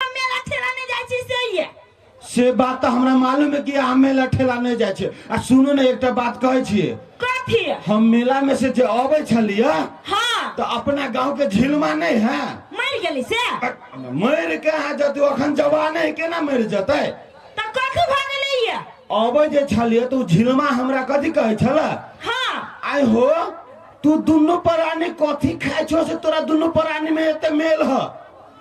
मेला ठेला नहीं जाए छी से ये से बात तऽ हमरा मालूम है कि अहाँ मेला ठेला नहि जाइ छै आ सुनू ने एकटा बात कहै छियै कथी हम मेला में से जे अबै छलियै हाँ तऽ अपना गाँव के झिलमा नहि है मर गेली से मरि के अहाँ जतै अखन जवान है केना मरि जेतै तो कथी भ गेलै ये अबै जे छलियै तऽ ओ झिलमा हमरा कथी कहै छलै हाँ आइ हो तू दुनू प्राणी कथी खाइ छो से तोरा दुनू प्राणी में एते मेल ह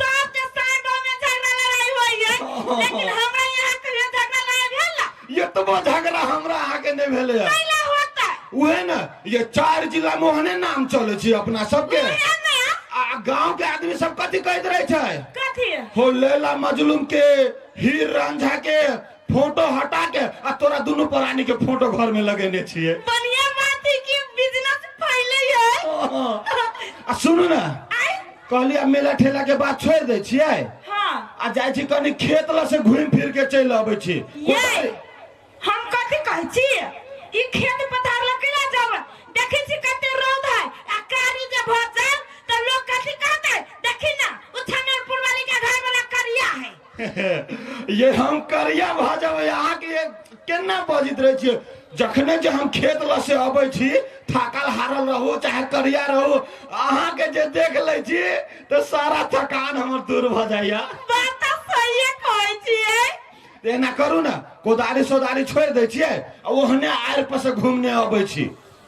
सबके साथ गाँव में झगड़ा लड़ाई होई है लेकिन हमरा यहाँ कभी झगड़ा लड़ाई भेल ना ये तो वो झगड़ा हमरा आगे नहीं भेले है कैला होता है उहे न ये चार जिला में ओहने नाम चले छी अपना सबके यहाँ में आ आ गांव के आदमी सब कथी कहते रहे छै कथी हो लैला मजलूम के हीर रांझा के फोटो हटा के आ तोरा दुनू प्राणी के फोटो घर में लगेने छिए बढ़िया बात है कि बिजनेस फैले है आ सुनू ना आय कहली अब मेला ठेला के बात छोड़ दे छिए हाँ आ जाइ छी कनी खेत ल से घूम फिर के चल अबै छी ये हम कथी कहै छी ई खेत पथार लग केना जाब देखै छी कते रौद है आ कारी जे भऽ जाब तऽ लोग कथी कहतै देखी ना ओ छनरपुर वाली के घर वाला करिया है ये हम करिया भऽ जेबै अहाँके ये केना बजैत रहै छियै जखने जे हम खेत लऽ से अबै छी थाकल हारल रहू चाहे करिया रहू अहाँके जे देख लै छी तऽ सारा थकान हमर दूर भऽ जाइया बात तऽ सहिए कहै छियै तऽ एना करू ने कोदारी सोदारी छोड़ि दै छियै आ ओहने आड़ि पर से घूमने अबै छी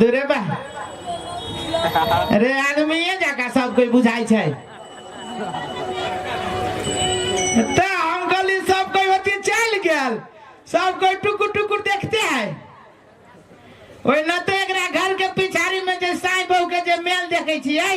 दूरे बा रे आदमी ये जका सब कोई बुझाई छै ते हम गली सब कोई होती चल गेल सब कोई टुकुर टुकुर देखते है ओहिना तो एकरा घर के पिछाड़ी में जे साई बहू के जे मेल देखे छियै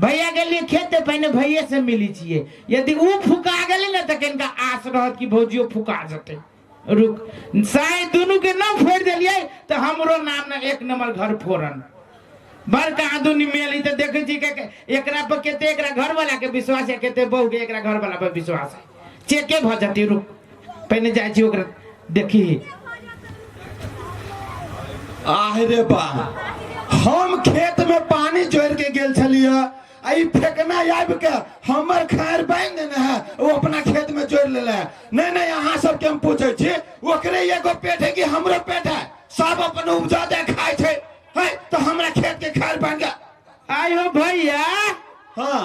भैया गेलिए खेत ते पहिने भैये से मिली छिए यदि ऊ फुका गेली ने तऽ किनका आस रहत कि भौजियो फुका जेतै रुक साय दुनू के ना फोड़ देलिए तऽ हमरो नाम ने एक नंबर घर फोड़न बड़का आदमी मेली तऽ देखै छी के- के- एकरा पर कते एकरा घर वाला के विश्वास है कते बहू के एकरा घर वाला पर विश्वास है चेके भऽ जेतै रुक पहिने जाइ छी ओकरा देखी आह रे बा हम खेत में पानी जोड़ के गेल छलिए आ ई फेकना आबि के हमर खार बांधि देने है ओ अपना खेत में जोड़ लेले है नहीं नहीं अहाँ सबके हम पूछे छी ओकरे एगो पेट है कि हमरो पेट है सब अपन उपजा दे खाय छै है तो हमरा खेत के खार बांध के आय हो भैया हाँ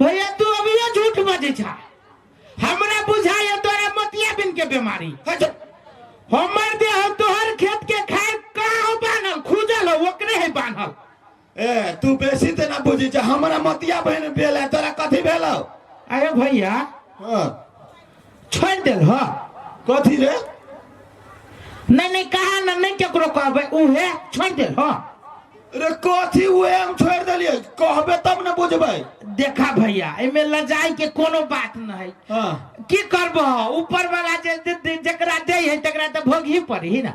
भैया तू अभियो झूठ बजे छा हमरा बुझाए तोरा मोतिया बिन के बीमारी हमर देह तोहर खेत के खाए का हो बान्हल खुजल हो ओकरे है बान्हल ए तू बेसी ते ना बुझी जा हमरा मतिया बहन भेल है तोरा कथी भेल हौ? अरे भैया हाँ छोड़ देल ह कथी रे नहीं नहीं कहा ना नहीं केकरो कहबे उहे छोड़ देल ह रे कथी उहे हम छोड़ देलिए कहबे तब ने बुझबे देखा भैया एमे लजाई के कोनो बात न है हाँ की करबह ऊपर वाला जे जे- जे- जेकरा दे है तकरा तो भोग ही पड़ी ना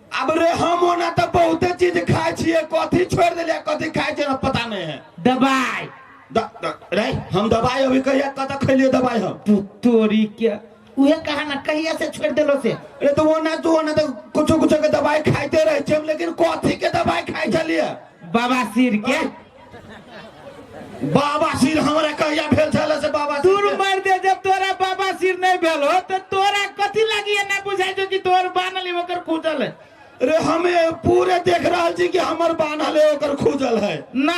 अब रे हम ओना तऽ बहुते चीज खाइ छियै कथी छोड़ देलियै कथी खाइ छियै पता नहीं है दबाई द, द, रे हम दवाई अभी कहिया कत खैलिए दवाई हम तू तोरी क्या उहे कहा ना कहिया से छोड़ देलो से अरे तो ओना तू ओना तो कुछ कुछ के दवाई खाइते रहे छियै हम लेकिन कथी के दवाई खाइ छलिए बाबा सिर के बाबा सिर हमरा कहिया भेल छले से बाबा सिर दूर के- मार दे जब तोरा बाबा सिर नहीं भेल हो तो तोरा कथी लगी है ना बुझाई जो कि तोर बानल है, ओकर खुजल है रे हमे पूरे देख रहल छी कि हमर बान्हल है ओकर खुजल है ना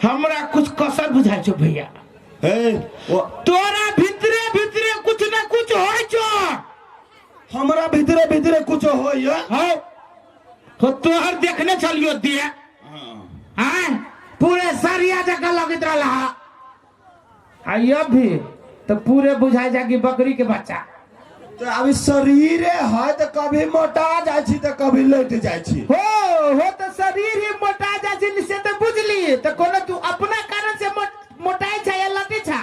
हमरा कुछ कसर बुझाई छो भैया ए, ओ, तोरा भीतरे भीतरे कुछ ना कुछ होय छो हमरा भीतरे भीतरे कुछ होइए हाँ हो तोहर देखने चलियो दिए आय पूरे सरिया जगह लगित रहला हा आ ये भी तो पूरे बुझाई जागी बकरी के बच्चा तो अभी शरीरे है तो कभी मोटा जाइ छी तो कभी लैट जाइ छी हो हो तो शरीर ही मोटा जाइ छै से तो बुझली तो कोनो तू अपना कारण से मोट- मोटाई छै या लटी छै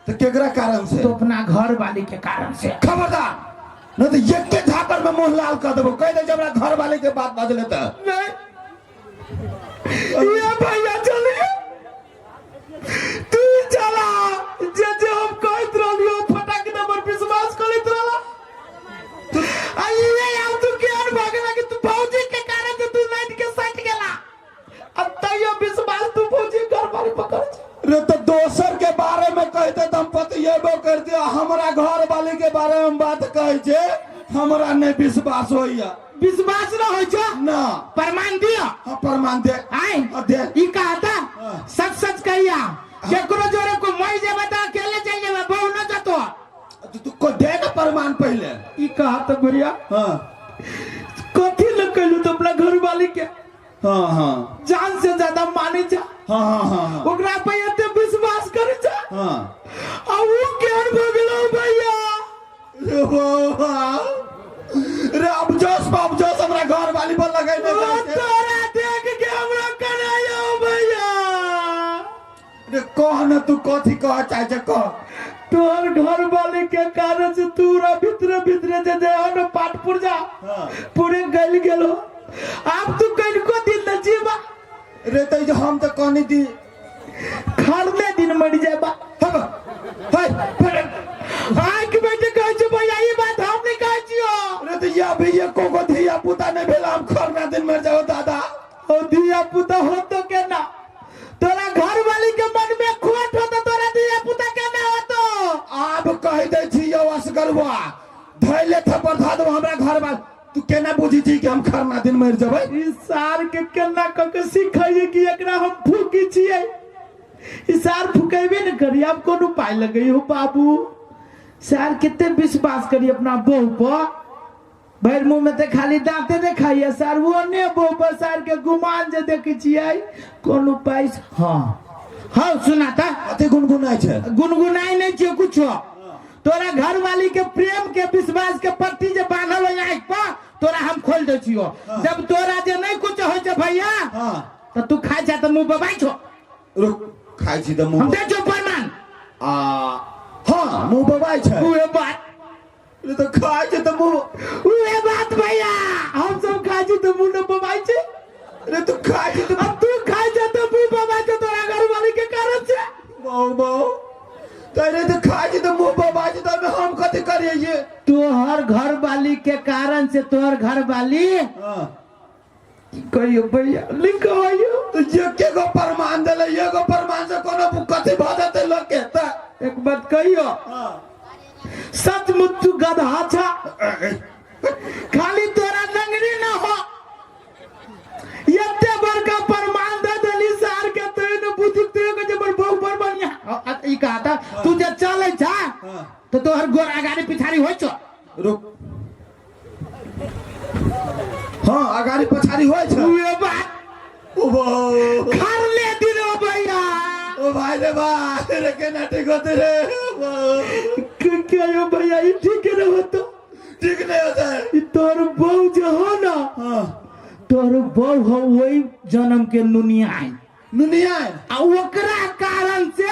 तो केकरा कारण से तो अपना घर वाली के कारण से खबरदार नहीं तो एक के झापर में मुंह लाल कर देबो कह दे जब हमरा घर वाले के बात बाजले त नहीं ये भैया चलिए तू चला जे जे हम कहत रहलियो फटाक दे पर विश्वास करत रहला आई ये यार तू के अन भागला कि तू भौजी के कारण से तू नाइट के साथ गेला आ तैयो विश्वास तू भौजी गड़बड़ पकड़ छै। रे तो दोसर के बारे में कहते तो हम पतिएबो करते आ हमरा घर वाली के बारे में बात कहे जे हमरा नहीं विश्वास होइया विश्वास न होइ छै ना प्रमाण दिअ हम प्रमाण दे आय आ दे ई कहता हाँ। सच सच कहिया केकरो जोरे को मर जेबे त अकेले चल जेबे बहु न जतो तू- तू को दे ना प्रमाण पहले ई कहत बुढ़िया हाँ कथी ल कहलू तो अपना घर वाली के हाँ हाँ जान से ज्यादा माने जा हाँ हाँ हाँ हाँ ओकरा पे एते विश्वास करे जा हाँ आ ऊ केहन भऽ गेलौ भैया रे वाह। रे अब जोश बाप जोश हमरा घर वाली पर लगे ओ तोरा देख के हमरा कनायो भैया अरे कह न तू कथी कह चाहे छे कह तोहर घर वाले के कारण से तूरा भीतरे भीतरे जे जे हन पाट पुरजा हाँ। पूरे गल गेलो आप तू कल को दिन न जीवा अरे तो जो हम तो कहनी दी खरने दिन मर जाबा हम हाय पर आंख में जे कह छे भैया ई बात हम नहीं कह छियो अरे तो या भैया को को धिया पुता नहीं भेला हम खरना दिन मर जाओ दादा ओ दिया पुता हो तो के ना तोरा घर वाली के मन में खोट हो तो तोरा दिया पुता के ना हो तो आब कह दे छी यो असगरवा धैले थपर धा दो हमरा घर वाल तू केना बुझी छी कि हम खरना दिन मर जबै इस सार के केना क के सिखाइए कि एकरा हम फूकी छिए इस सार फुकेबे न करी आब कोन उपाय लगई हो बाबू सार केते विश्वास करी अपना बहू पर भरि मुँह में तऽ खाली दाँते ने खाइए सरवो ने बो बसार के गुमान जे देखै छियै कोन उपाय से- हँ हँ सुना तऽ कते गुनगुनाइ छै गुनगुनाइ नहि छै कुछो तोरा घरवाली के प्रेम के विश्वास के पट्टी जे बांधल हो आँखि पर तोरा हम खोल दै छियो जब तोरा जे नहि कुछ होइ छै भैया हँ तऽ तू खाइ छै तऽ मुंह बबाइ छो रुक खाइ छी तऽ हम मुँह दै छो प्रमाण आ हँ मुँह बबाइ छै उहे बात ये तो खाए छे तो मुंह उहे बात भैया हम सब खाए छे तो मुंह न बबाई छे अरे तू खाए छे तो अब तू खाए छे तो मुंह बबाई छे तोरा घर वाले के कारण छे माओ माओ तेरे तो खाए छे तो मुंह बबाई छे तो हम कथि करिए ये तोहर घर वाली के कारण से तोहर घर वाली हाँ कहियो भैया लिंक आयो तो ये के को प्रमाण देले ये को प्रमाण से कोनो बुकति भ जाते लोग के त एक बात कहियो हाँ। सचमुच तू गधा छा खाली तोरा नंगनी ना हो एते बड़का प्रमाण दे देली सार के तू न बुद्धि तू के जबर बहु पर बढ़िया अ- अ- ई कहा था तू जे चले छा हाँ। तो तोहर गोर अगाड़ी पिछाड़ी होय छो रुक हाँ अगाड़ी पछाड़ी होय छै उहे बात ओ बो घर ले दिलो भैया ओ भाई रे भाई रे केना ठीक होते रे ओ बो क- के यो भैया ई ठीक न होतो ठीक नहीं होता है ई तोर बहू जे हो ना हाँ तोर बहू हो वही जन्म के नुनिया है नुनिया आ ओकरा कारण से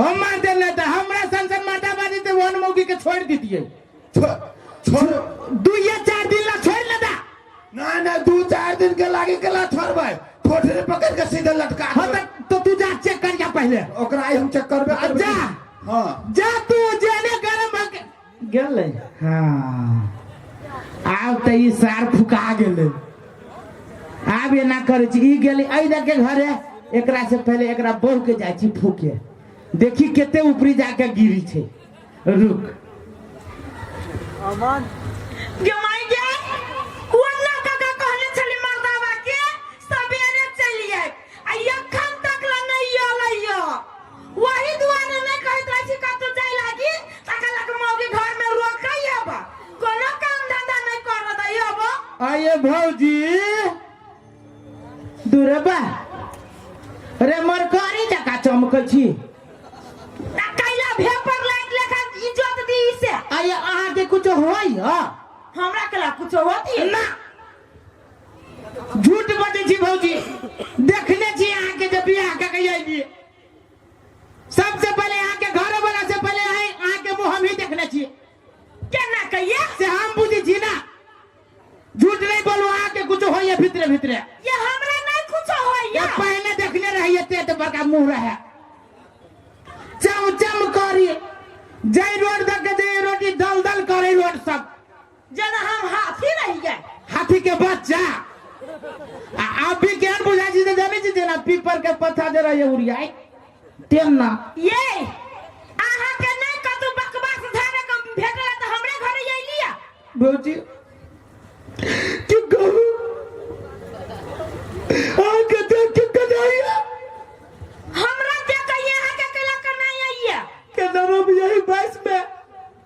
हम मार दे ना था हमरा संग से माता बाजी ते वन मौकी के छोड़ दी दिए छो- छोड़ दू या चार दिन ला छोड़ ना था ना ना दू चार दिन के लागे के ला छोड़बै ठोठरी पकड़ के सीधे लटका हाँ देबै। तो, तो तू जा चेक कर जा पहले ओकरा आइ हम चेक करबे करबै। जा। हाँ जा तू जेने गरम भके गेलै हँ आब तऽ ई सार फुका गेलै आब एना करै छी ई गेलै एहि दऽ के घरे एकरा से पहिले एकरा बहू के जाइ छी फूके देखी कते ऊपरी जाके गिरी छै रुक गे माय गे वरना काका कहने छली मर्दावा के सबेरे चलि आयब आ एखन तक ला नहि अयलैया ओही दुआरे नहि कहैत रहै छी कतहु जाय लागी तकर लऽ कऽ मौगी घरमे रोकै एब कोनो काम धंधा नहि करऽ दै एब आये भौजी दूरे बा रे मरकारी जका चमकै छी आ कैला भेपर लाइट लेखा इज्जत दी से आये अहाँके कुछ होइए हमरा कला कुछो होती ना झूठ बजै छी भौजी देखने छी अहाँ के जब बियाह के गई आई सबसे पहले अहाँ के घर वाला से पहले आई अहाँ के मुंह हम ही देखने छी केना कहिए से हम बुझी छी ना झूठ नहीं बोलू अहाँ के कुछ होइए भीतरे भीतरे ये हमरा नहीं कुछ ये होइया पहले देखने रहिए ते तो बड़का मुंह रहे चम चम करी जय रोड तक के जय रोटी दल दल करे रोड सब जेना हम हाथी रहियै हाथी के बच्चा आ आप भी ज्ञान बुझा जी ने जाने जी ना पीपर के पत्ता जरा ये उड़ियाई तेन ना ये अहाँ के नहीं कतु बकवास धारे कम भेटल त हमरे घरे ये लिया भौजी कि कहू आ के देख के कदाइया हमरा जे कहिए अहाँ के केला करना आइया के नरो भी यही बाईस में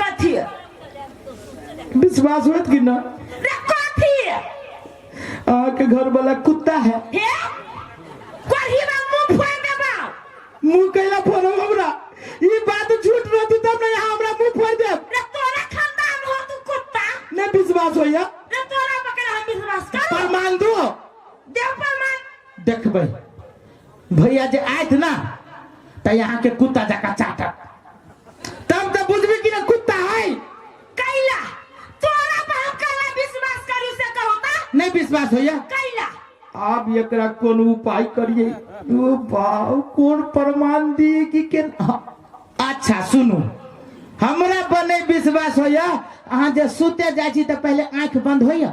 कथी है? विश्वास होत कि ना रे कथी है? अहाँ के घर वाला कुत्ता है हे? कोढ़ी में मुंह फोड़ देबा। मुंह कैला फोड़ो हमरा ई बात झूठ रहती तब ना यहाँ हमरा मुंह फोड़ देब रे तोरा खानदान हो तू कुत्ता। नहीं विश्वास होइया रे तोरा पकड़ हम विश्वास करो। प्रमाण दो देव प्रमाण। देखबै भैया जे आयत ना त यहाँ के कुत्ता जका चाटत तब त बुझबी कि ना कुत्ता है कैला तोरा पर हम कैला विश्वास करू से कहू ता नहीं विश्वास होइया कैला आब एकरा कोन उपाय करिए ओ बाऊ कोन प्रमाण दी कि के हाँ, अच्छा सुनू हमरा बने विश्वास होइया अहाँ जे सुते जाइ छी त पहले आंख बंद होइया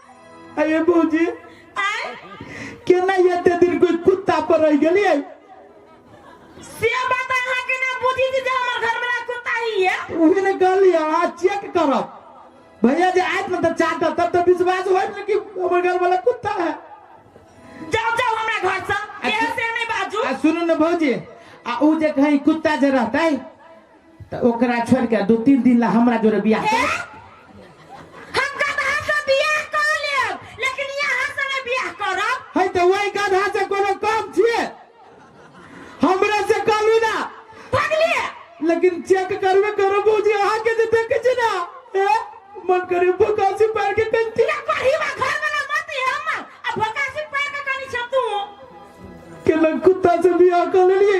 अये भौजी आय केना एते दिन कोई कुत्ता पर रह गेलिए से बात अहाँ के ना बुझी थी जे हमर घर वाला कुत्ता ही है उहे ने कहलिए आ चेक करब भैया जे आयत न त चाटा तब त विश्वास होय न कि हमर घर वाला कुत्ता है जाओ जाओ हमरा घर से एहे से नहीं बाजू आ सुनू न भौजी आ ऊ जे कहीं कुत्ता जे रहतै त ओकरा छोड़ के दो तीन दिन ला हमरा जोरे बियाह ए? कर हम गधा से बियाह कर लेब लेकिन यहाँ से नहीं बियाह करब है तो वही गधा से कोनो काम छिए हमरा से कहलू ना पगले लेकिन चेक करबे करो बूझी अहा के जे देखे छी ना ए? मन करे भुकासी पैर के कंती ना पढ़ी बा घर में ना मत ही हम अब भकासी पैर का कनी छतू के लग कुत्ता से बियाह कर लेलिए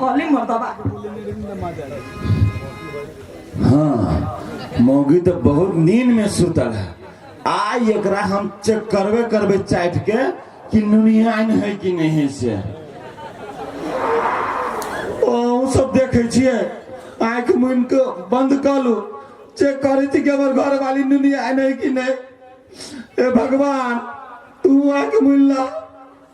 कॉलिंग मरता बा हाँ मौगी तो बहुत नींद में सुतल है आ एकरा हम चेक करबे करबे चाट के कि नुनियान है कि नहीं है से ओ उ सब देखे छिए आंख मुन के बंद कर लू चेक करे थी कि हमर घर वाली नुनियान है कि नहीं ए भगवान तू आंख मुन ला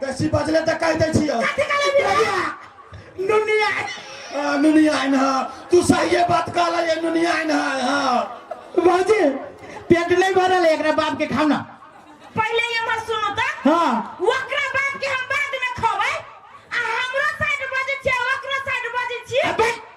बेसी बजले तऽ कहि दै छियौ नुनिया आ, नुनिया आइन हँ तू सहिए बात कहला ये नुनिया आइन हँ हँ भाजी पेट नहीं भरल है एकरा बाप के खाओ ना पहिले ये मत सुनो त हाँ ओकरा बाप के हम बाद में खबै आ हमरो साइड बजै छियै ओकरो साइड बजै छियै अबे